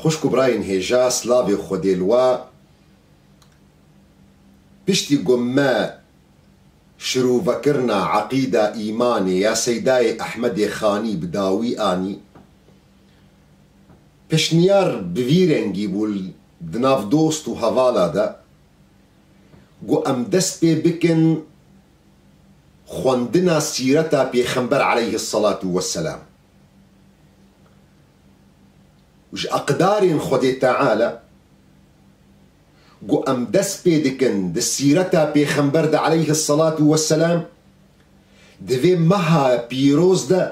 Xwişk û birayên hêja slavê Xwedêlwa piştî ku me şirûvekirina eqîda îmanê ya Seydayê Ehmedê Xanî bi dawî anî, pişniyar bi vî rengî bû di nav dost û hevala de ku em dest pê bikin xwendina sîreta Pêxember Eleyhî Selatû Weselam. Ji aqdarên Xwedê Teala ku em dest pê dikin di sîreta Pêxember de aleyhi selatû weselam, di vê meha pîroz de,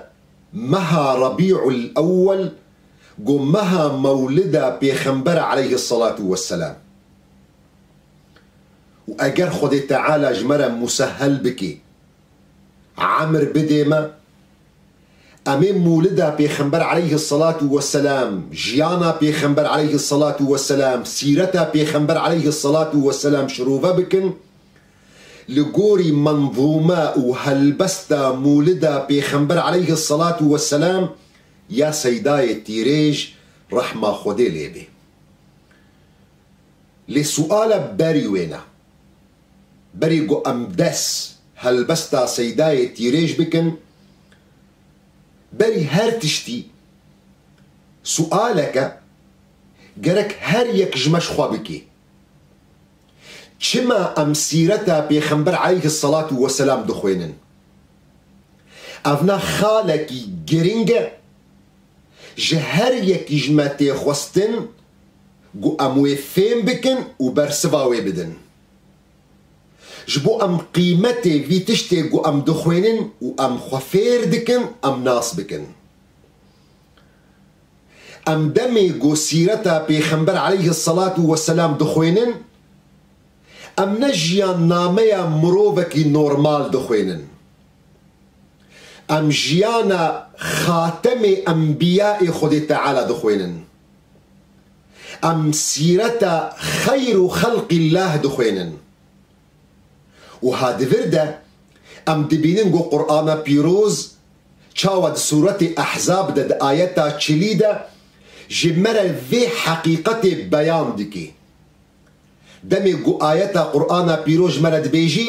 meha Rebî'ul Ewwel ku meha mewlida Pêxember aleyhi selatû weselam û eger Xwedê Teala ji me re musehel bike, emr bidê me, Em ê Mûlida Pêxember Eleyhi Selatu Weselam, Jiyana Pêxember Eleyhi Selatu Weselam, Sîreta Pêxember Eleyhi Selatu Weselam şirove bikin, li gorî menzûme û helbesta Mûlida Pêxember Eleyhi Selatu Weselam ya Seydayê Tîrêj Rehma Xwedê lê bê. Lê suala berî wê ne. Berî ku em des helbesta Seydayê tîrêj bikin, berî her tiştî sualek e gerek her yek ji me ji xwe bike, Çima em sîreta Pêxember aleyhi selatû weselam dixwênin? Ev ne xalekî girîng e? Ji her yekî ji me tê xwestin ku em wê fêm bikin û bersiva wê bidin. Ji bo em qîmetê vî tiştê ku em dixwênin û em xwe fêr dikin em nas bikin. Em demê ku Sîreta Pêxember aleyhi selatû we selam dixwênin, em ne jiyannameya mirovekî normal dixwênin. Em jiyana Xatemê Enbîyaê Xwedê Teala dixwênin. Em sîreta xeyr û xelqî lah dixwênin û ha di vir de em dibînin ku Qur'ana Pîroz çawa di sûretê Ehzab de di ayeta çilî de ji me re vê heqîqetê beyan dike. Demê ku ayeta Qur'ana Pîroz ji me re dibêjî,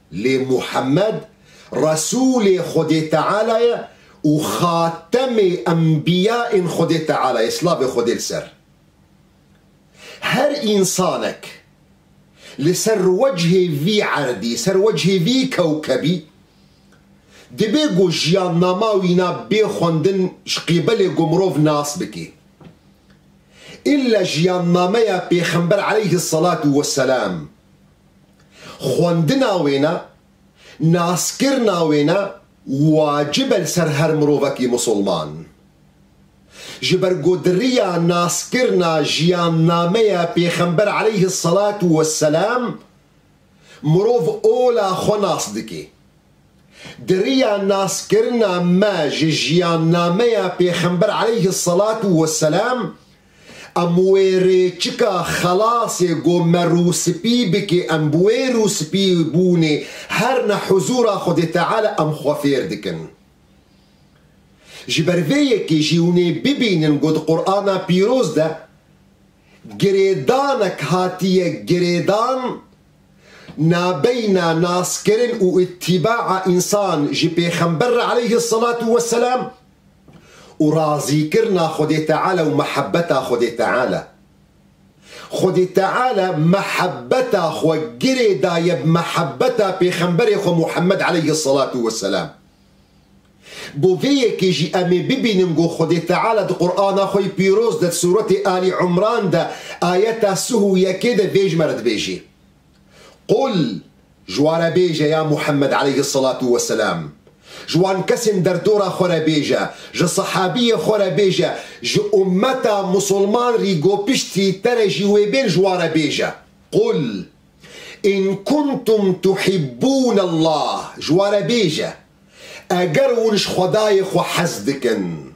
Lê Muhammed Resûlê Xwedê Teala ye û Xatemê Enbîya ên Xwedê Teala ye silavê Xwedê li ser. Her însanek li ser wecihê vî erdî, ser wecihê vî kewkebî dibê ku jiyannama wî na bê xwendin ji qîbelê ku mirov nas bike. Îlla jiyannameya Pêxember Eleyhî Selatû Weselam. Xwendina wê ne, naskirina wê ne wacib e li ser her mirovekî misilman. Ji ber ku di riya naskirina jiyannameya Pêxember aleyhis selatu wesselam mirov ola xwe nas dike. Di riya naskirina me ji jiyannameya Pêxember aleyhis selatu wesselam Em wê rê çika xelasê go merû spî bike em bi wê rû spî bûnê her ne huzûra Xwedê Teala em xwe fêr dikin. Ji ber vê yekê jî hûn ê bibînin go di Qur'ana pîroz de girêdanek hatiye girêdan nabeyna naskirin û îtîbaa însan ji pêxember re aleyhî selatû weselam, û razîkirina Xwedê Teala û mehebeta Xwedê Teala. Xwedê Teala mehebeta xwe girê daye bi mehebeta Pêxemberê xwe Muhemmed aleyhi selatû we selam. Bo vê yekê jî em ê bibînin ku Xwedê Teala di Qur'ana xwe yê pîroz de di sûretê Alî Umran de ayeta sih û yekê de vê ji me re dibêjê. Qul, ji wan re bêje, ya Muhemmed aleyhî selatû we selam, ji wan kesên derdora xwe re bêje, ji sehabiyê xwe re bêje, ji ummeta misilman rî gopiştî te re jî wê bên ji wan re bêje, Qul, in kuntum tuhibbûn Allah, ji wan re bêje, eger hûn ji Xwedayê xwe hez dikin.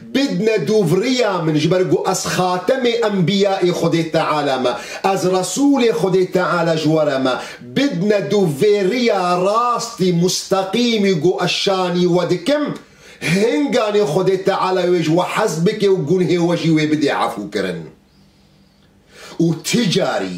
Bidne dûvriya min ji ber ku ez xatemê enbîyaê Xwedê Teala me, ez resûlê Xwedê Teala ji we re me, bidne dûvêriya rastî musteqîmî ku ez şanî we dikim, hinganê Xwedê Teala wê ji we hez bike û gunhê we jî wê bidê efûkirin. Û ti carî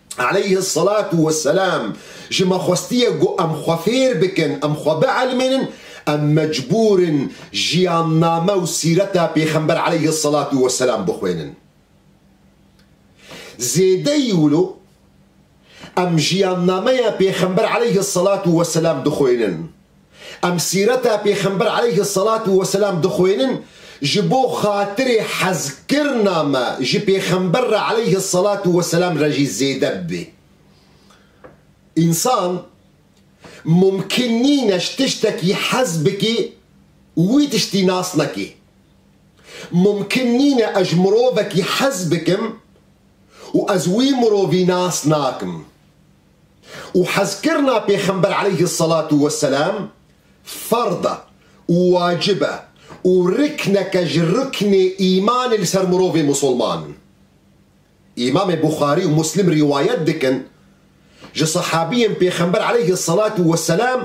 aleyhi selatu we selam, ji me xwestiye ku em xwe fêr bikin, em xwe bielmênin, em mecbûr in jiyanname û sîreta Pêxember aleyhi selatu we selam bixwênin. Zêdeyî wilo em jiyannameya Pêxember aleyhi selatu we selam dixwênin. Em sîreta Pêxember aleyhi selatû weselam dixwênin ji bo xatirê hezkirina me ji Pêxember re aleyhi selatû weselam re jî zêde bibe. Însan mumkin nîne ji tiştekî hez bike û wî tiştî nas neke. Mumkin nîne ez ji mirovekî hez bikim û ez wî mirovî nas nakim. Û hezkirina Pêxember eleyhi selatu we selam ferd e û wacib e û rikneke ji riknê îmanê li ser mirovê misilman in. Îmamê Buxarî û Muslim rîwayet dikin ji sehabiyên Pêxember eleyhi selatu we selam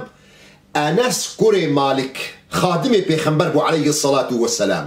Enes kurê Malik xadimê Pêxember bû eleyhi selatu we selam.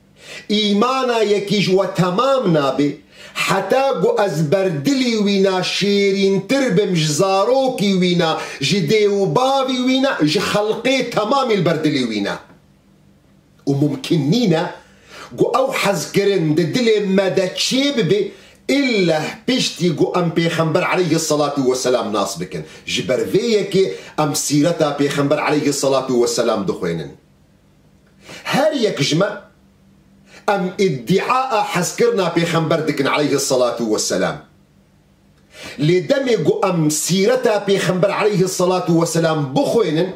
Îmana yekî ji we temam nabe, heta ku ez ber dilî wî na şêrîntir bim, ji zarokî wî na, ji dê û bavî wî na, ji xelqê temamî li ber dilî wî na. Û mumkîn nîne ku ew hezkirin di dilê me de çêbibe illeh piştî ku em Pêxember aleyhî selatû weselam nas bikin. Ji ber vê yekê em sîreta Pêxember aleyhî selatû weselam dixwênin. Her yek ji me em îdîaa hezkirina pêxember dikin aleyhi selatu we selam. Lê demê ku em sîreta pêxember aleyhi selatu we selam bixwênin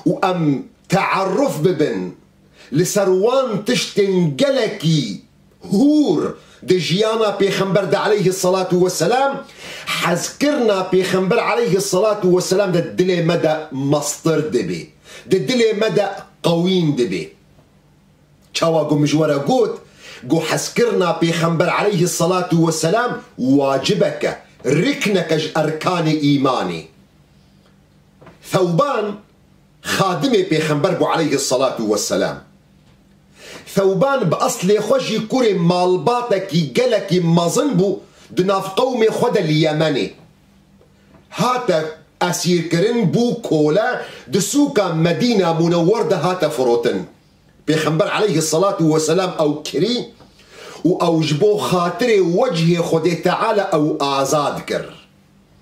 û em teeruf bibin li ser wan tiştên gelekî Hûr, di jiyana pêxember de eleyhi selatû we selam, hezkirina pêxember eleyhi selatû we selam di dilê me de mestir dibê, di dilê me de qewîn dibê. Çawa ku min ji we re got ku hezkirina pêxember eleyhi selatû we selam wacibek e, rikneke ji erkanê îmanê. Thewban. Xadimê Pêxember bû aleyhi selatû we selam. Thewban bi eslê xwe jî kurê malbatekî gelekî mezin bû di nav qewmê xwe de li Yemenê. Hate esîrkirin bû kole di sûka Medîna Munewwer de hate firotin. Pêxember aleyhi selatû we selam ew kirî û ew ji bo xatirê wecihê Xwedê Teala ew azad kir.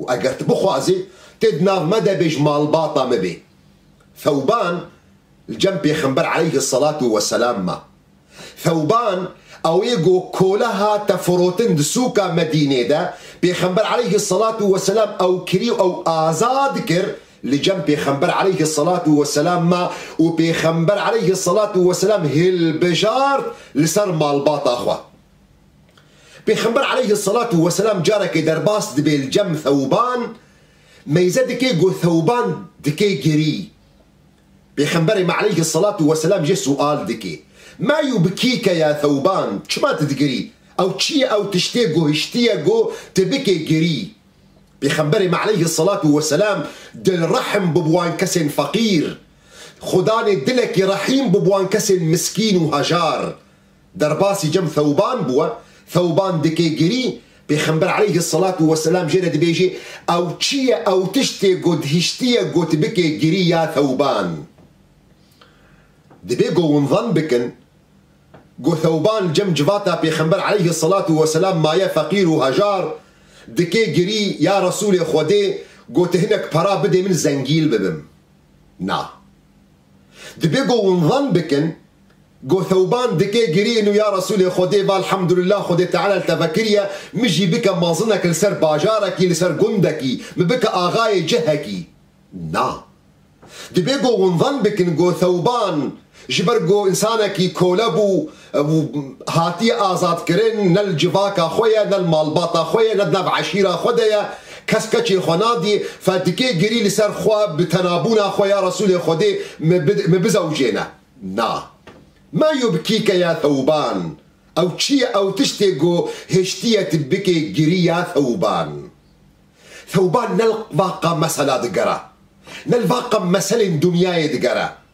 Û eger tu bixwazî, tê di nav me de bêj malbata me bê. Thewban li cem Pêxember aleyhi selatû we selam ma. Thewban ew yê ku kole hate firotin di sûka Medînê de, Pêxember aleyhi selatû we selam ew kirî û ew azad kir li cem Pêxember aleyhi selatû we selam ma û Pêxember aleyhi selatû we selam hilbijart li ser malbata xwe. Pêxember aleyhi selatû weselam carekê derbas dibê li cem Thewban, meyze dike ku Thewban dike gerî. Pêxemberê me aleyhi selatû weselam jê sual dike, Ma yû bi kî ke ya Thewban, çima tu digerî? Ew çi ye ew tiştê ku hiştiye ku tu bike gerî? Pêxemberê me aleyhi selatû weselam dilrehm bû bi wan kesên feqîr. Xwe danê dilekî rehîm bû bi wan kesên miskîn û hejar. Derbasî cem Thewban bû. Thewban dikê girî, Pêxember aleyhisselatu weselam jê re dibêjê, Ew çi ye, ew tiştê ku dhiştiye got bikê girî ya Thewban. Dibê ku hûn zan bikin ku Thewban cem civata Pêxember aleyhisselatu weselam maye feqîr û hejar, dikê girî, Ya Resûlê Xwedê, got hinek pera bidê min zengîl bibim. Na. Dibe go wan van bikin, go Thewban dike giriyên û ya Resûlê Xwedê va Elhamdulillah Xwedê Teala li te ve kiriye, min jî bike mazinek li ser bajarekî, li ser gundekî, min bike axayê cihekî. Na. Dibe go wan van bikin, go Thewban Ji ber ku însanekî kole bû û hatiye azadkirin, ne li civaka xwe ye, ne li malbata xwe ye, ne di nav eşîra xwe de ye, kes keçê xwe nadî, fe dikê girî li ser xwe bi tenabûna xwe ya Resûlê Xwedê min bizewjêne. Na. Mayo bi kî ke ya thewban. Ew çi ye? Ew tiştê ku hiştiye tu bikê girî ya thewban. Thewban ne li va qam mesela digere, ne li va qam meselên dinyayê digere.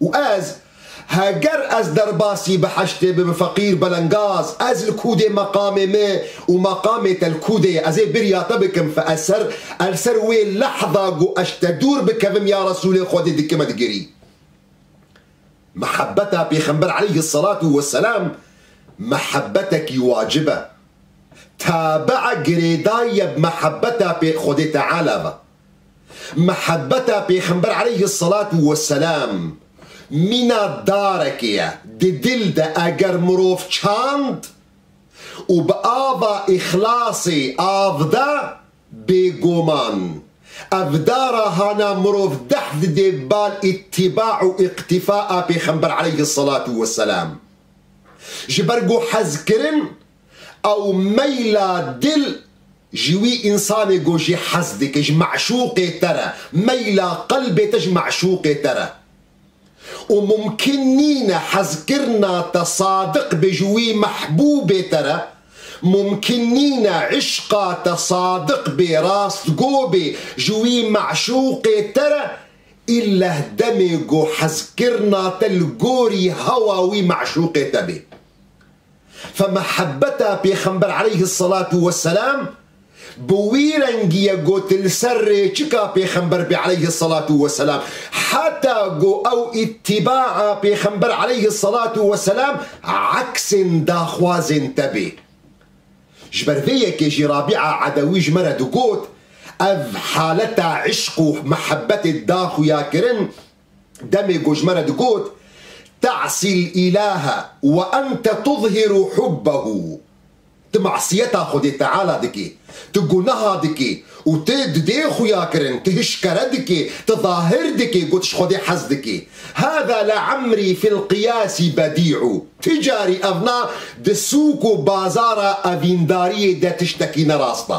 Û ez, heger ez derbasî bi heştê bibim feqîr belengaz, ez li ku dê meqamê me û meqamê te li ku dê ye, ez ê birya te bikim fe ez ser e li ser wê lehza ku eş te dûr bikevim ya Resûlê Xwedê dikime digirî. Mihebeta Pêxember aleyhi selatu we selam mihebetekî wacib e. Tabi girêdayî ye bi mihebeta Xwedê Teala ve. Mihebeta Pêxember eleyhi selatu we selam mîna darekê ye di dil de eger mirov çand û bi ava îxlasê av da bêguman ev dara hana mirov deh didê bal îtîba û îqtîfa a Pêxember eleyhi selatu we selam. Ji ber ku hezkirin Ew meyla dil ji wî însanê ku jî hez dike ji me'şûqê te re, meyla qelbê te ji me'şûqê te re. Û mumkin nîne hezkirina te sadiq be ji wî mehbûbê te re, mumkin nîne îşqa te sadiq bê, rastgo bê ji wî me'şûqê te re, îlleh demê ku hezkirina te li gorî hewa wî me'şûqê te bê. Fe mehebeta Pêxember aleyhi selatû we selam bi wî rengî ye go tu li ser rêçika Pêxember bî aleyhi selatû we selam heta go ew îtîbaa Pêxember aleyhi selatû we selam eksên daxwazên te bê. Ji ber vê yekê jî Rabîa Edewî ji me re digot, Ev haleta îşq û mehebetê daxuyakirin demê ku ji me re digot, Te'sî l'îlahe we ente tuzhiru hubbehu, Tu masiyeta Xwedê Teala dikî, tu guneha dikî û tu didê xuyakirin, tu hişkere dikî, tu zahir dikî ku tu ji Xwedê hez dikî. Hada le'emrî fî l'qiyasî bedî'u, Ti carî ev na di sûk û bazara evîndariyê de tiştekî ne rast e.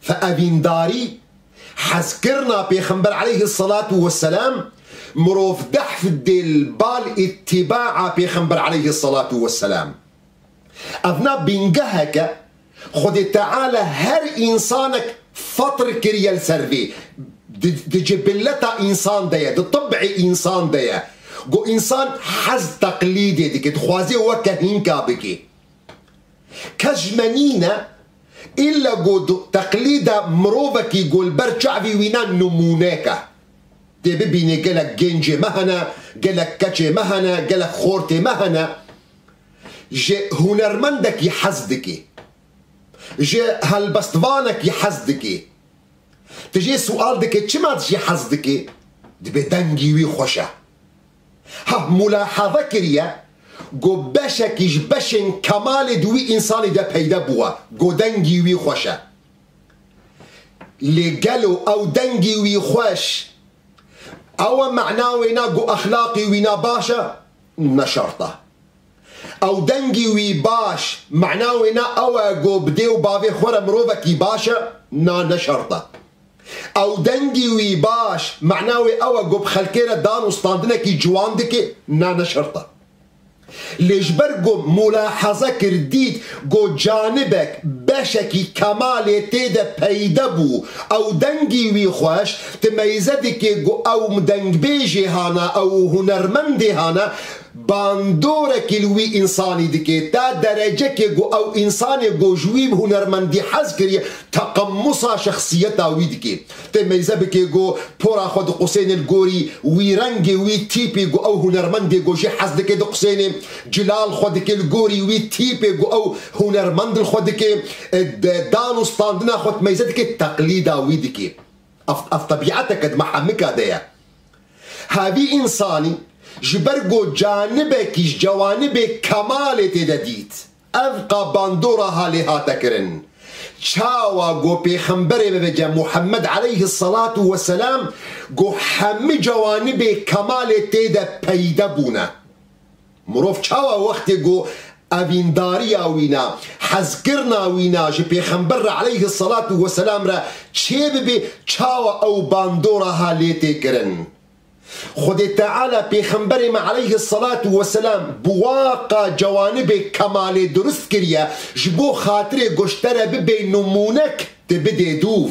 Fi evîndarî, hezkirina Pêxember eleyhi selatu weselam, mirov dehf dê li bal îtîbaa Pêxember eleyhi selatu weselam. Ev na bîngeheke Xwedê Teala her însanek fetr kiriye li ser vê, di cibilleta însan de ye, di tib'ê însan de ye ku însan hez teqlîdê dike, dixwaze weke hînka bike. Kes ji me nîne, îlle ku di teqlîd de mirovekî ku li ber çavê wî ne nimûnek e. Dê bibînî gelek gêncê me hene, gelek keçê me hene, gelek xortê me hene. Ji hunermendekî hez dikî. Ji helbestvanekî hez dikî. Ti jê siwal dikî çima tu jî hez dikî? Dibê dengî wî xweş e. Ha mulahaza kiriye ku beşekî ji beşên kemalê di wî însanî de peyde bûwe ku dengî wî xweş e. Lê gelo ew dengî wî xweş ew e mena wê ne ku exlaqî wî ne baş e? Ne şert e. Ew dengî wî baş mana wê ne ew e ku bi dê û bavê xwe re mirovekî baş e, na ne şert e. Ew dengî wî baş mana wê ew e ku bi xelkê re dan û standinekî ciwan dike, na ne şert e. Lê ji ber ku mulahaze kir dît ku canibek beşekî kemalê tê de peyde bû, ew dengî wî xweş, timeyze dike ku ew dengbêjê hane ew û hunermendê hane, Bandorekî li wî însanî dike, ta derecekê ku ew însanê ku ji wî bi hunermendî hez kiriye, teqemusa şexsiyeta wî dike. Tê meyze bike ku pora xwe diqusêne li gorî wî rengê wî tîpê ku ew hunermendê ku jê hez dike diqusêne, cila li xwe dike li gorî wî tîpê ku ew hunermend li xwe dike, dan û standina xwe di meyze dike, teqlîda wî dike. Ev ev tebîeteke di me hemika de ye. Hevî însanî ji ber ku canibekî ji cewanibê kemalê tê de dît, ev ka bandora halê hate kirin, çawa ku pêxemberê me bêje Muhemmed eleyhi selatu we selam ku hemû cewanibê kemalê tê de peyde bûne. Mirov çawa wextê ku evîndariya wî ne, hezkirina wî ne ji Pêxember re eleyhi selatû we selam re çê bibe çawa ew bandora ha lê tê kirin? Xwedê Teala Pêxemberê me eleyhi selatû we selam bi wa ka cewanibê kemalê dirust kiriye ji bo xatirê goştere bibê nimûnek tu bidê dûv.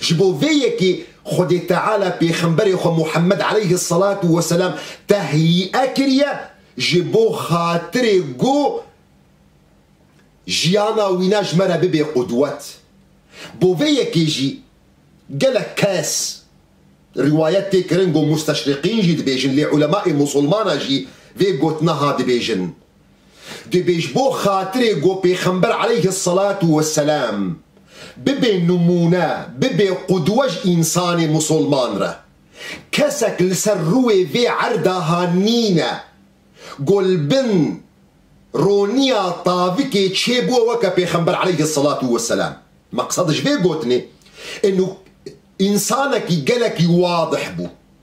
Ji bo vê yekê Xwedê Teala Pêxemberê xwe Muhemmed eleyhi selatû we selam tehyîe kiriye ji bo xatirê ku jiyana wî ne ji me re bibê qudwet. Bo vê yekê jî gelek kes riwayet tê kirin ku musteşriqîn jî dibêjin lê ulemaê musulmana jî vê gotina ha dibêjin. Dibê ji bo xatirê ku Pêxember aleyhis selatu wesselam bibe nimûne, bibe qudwe ji însanê musulman re. Kesek li ser rûê vê erda ha nîne ku li bin roniya tavikê çê bûe weke Pêxember aleyhis selatu wesselam. Meqsed ji vê gotinê însanekî gelekî wadih bû.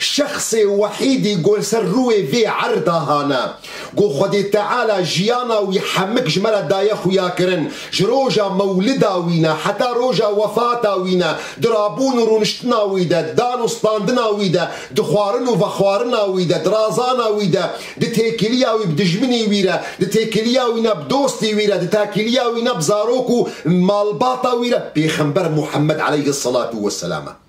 Şexsê wehîdî ku li ser rûê vê erda hane, ku Xwedê Teala jiyana wî hemik ji me re daye xuyakirin, ji roja mewlida wî ne heta roja wefata wî ne, di rabûn û rûniştina wî de, dan û standina wî de, di xwarin û vexwarina wî de, di razana wî de, di têkiliya wî bi dijminî wî re, di têkiliya wî ne bi dostî wî re, di takiliya wî ne bi zarok û malbata wî re, Pêxember Muhammed eleyhî selatû weselam e.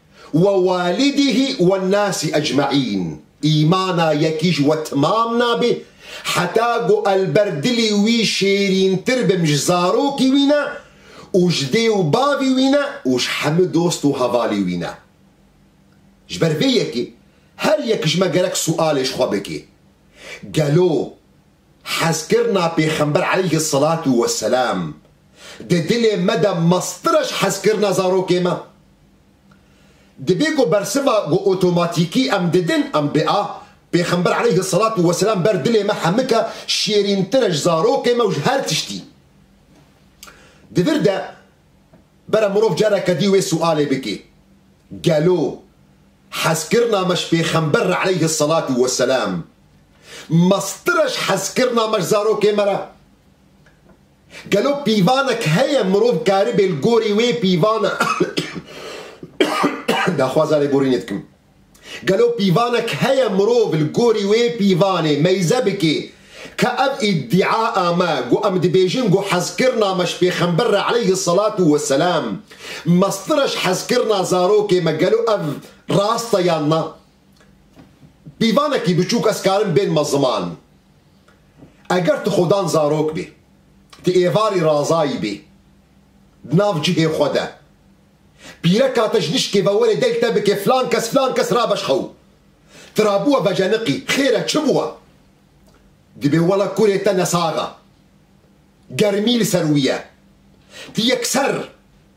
We walidîhî we nasî ecmaîn, îmana yekî ji we timam nabe, heta ku el ber dilî wî şêrîntir bim ji zarokî wî ne û ji dê û bavî wî ne û ji hemû dost û hevalî wî ne. Ji ber vê yekê her yek ji me gerek sualê ji xwe bike, Gelo hezkirina Pêxember aleyhi selatû weselam di dilê me de meztir e ji hezkirina zarokê me? Dibê ku bersiva ku otomatîkî em didin em bê a Pêxember eleyhi selatû weselam ber dilê me hemika şêrîntir e ji zarokê me û ji her tiştî. Di vir de bere mirov careke dî wê sualê bike, Gelo hezkirina me ji Pêxember re eleyhi selatû weselam meztir e ji hezkirina me ji zarokê me re? Gelo pîvanek heye mirov karibê li gorî wê pîvana daxwaza lêborînê dikim. Gelo pîvanek heye mirov li gorî wê pîvanê meyze bike ka ev îdîa a me ku em dibêjin ku hezkirina me ji pêxember re eleyhi selatu we selam meztir e ji hezkirina zarokê me gelo ev rast e yan na? Pîvanekî biçûk ez karim bênma ziman. Eger tu xwedan zarok bî, tu êvarî razayî bî di nav cihê xwe de. Pîreka te ji nişkê ve were deng te bike filan kes filan kes rabeş xew. Ti ra bûwe veceniqî, xêr e çi bûwe? Dibê wela kurê te nesax e. Germî li ser wî ye. Ti yekser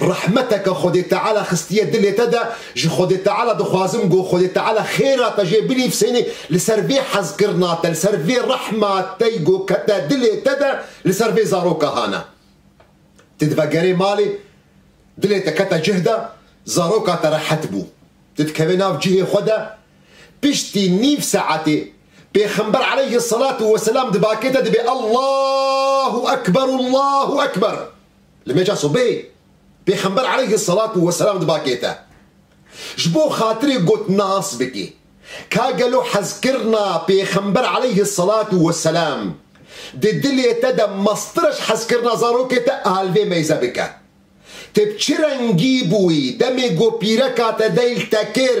Rehmeteke Xwedê Teala xistiye dilê te de, ji Xwedê Teala dixwazim ku Xwedê Teala xêra te jê binivîsêne li ser vê hezkirina te, li ser vê rehma te ku kete dilê te de li ser vê zaroka hana. Ti divegerê malê, dilê te kete cih de, zaroka te rehet bû. Ti dikeve nav cihê xwe de, piştî nîv saetê, Pêxember aleyhî selatu weselam di bakê te dibê Allahu ekber, Allahu ekber. Li meca sobeyê Pêxember aleyhi selatû weselam diba kê te ji bo xatirê got nas bikî. Ka gelo hezkirina Pêxember aleyhi selatû weselam di dilê te de meztir e ji hezkirina zarokê te alvê meyze bike. Te bi çi rengî bûyî demê ku pîreka te deyl te kir?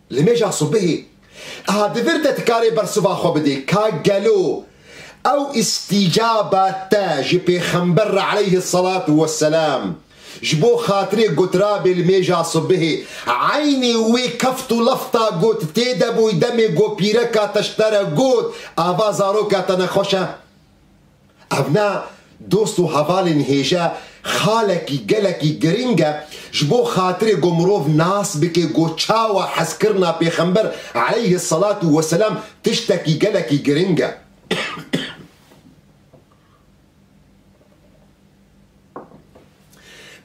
Li mêja sibehê eha di vir de ti karê bersiva xwe bidê ka gelo ew îstîcaba te ji Pêxember re eleyhi selat we selam ji bo xatirê gotirabê li mêja sibehê eynî wê keft û lafta got tê de bûy demê ku pîreka te ji te re got ava zaroka te nexweş e Ev ne dost û hevalên hêje xalekî gelekî girîng e ji bo xatirê ku mirov nas bike ku çawa hezkirina pêxember aleyhi selatû weselam tiştekî gelekî girîng e.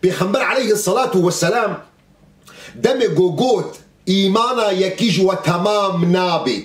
Pêxember aleyhi selatû weselam demê ku got, Îmana yekî ji we temam nabê.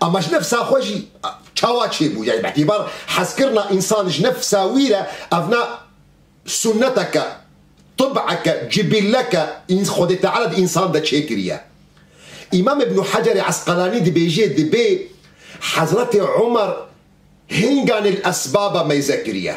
Ama ji nefsa xwe jî çawa çêbû? Yanî bi îtibar hezkirina însan ji nefsa wî re ev ne sunneteke, tib'eke, cibîlleke Xwedê Teala di însan de çêkiriye. Îmam Îbnû Hecerê Esqelanî dibêje dibê Hezretê Umer hinganê li esbaba meyze kiriye.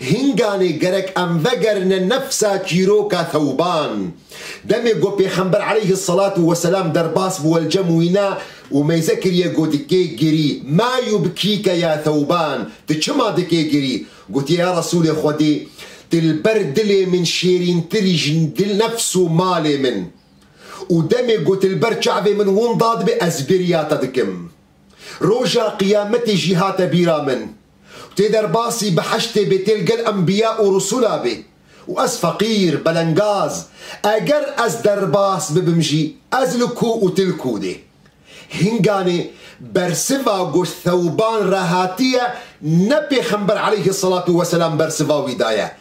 Hînganê gerek em vegerine nefsa çîroka Thewban. Demê ku Pêxember aleyhi selatû weselam derbas bi welcem wîna û meyze kiriye ku dikê girî, ma yubkîke ya Thewban, tu çima dikê girî? Gotiye ya Resûlê Xwedê, tu li ber dilê min şêrîntirî ji dil, nefs û malê min. Û demê ku tu li ber çavê min winda dibî ez bêriya te dikim. Roja qiyametê jî hate bîra min û tê derbasî biheştê bêtêl gel enbiya û risûla bê û ez feqîr, belengaz, eger ez derbas bibim jî ez li ku û tu li ku dê. Hinganê bersiva got Thewban re hatiye ne pêxember eleyhî selatû weselam bersiva wî daye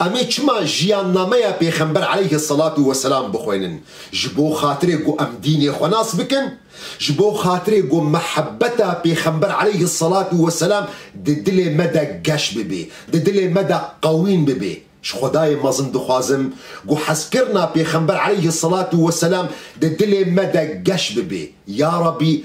Em ê çima Jiyannameya Pêxember aleyhi selatû weselam bixwênin? Ji bo xatirê ku em dînê xwe nas bikin, ji bo xatirê ku mihebeta Pêxember aleyhi selatû weselam di dilê me de geş bibê, di dilê me de qewîn bibê. Ji Xwedayê mezin dixwazim ku hezkirina Pêxember aleyhi selatû weselam di dilê me de geş bibê. Ya Rebî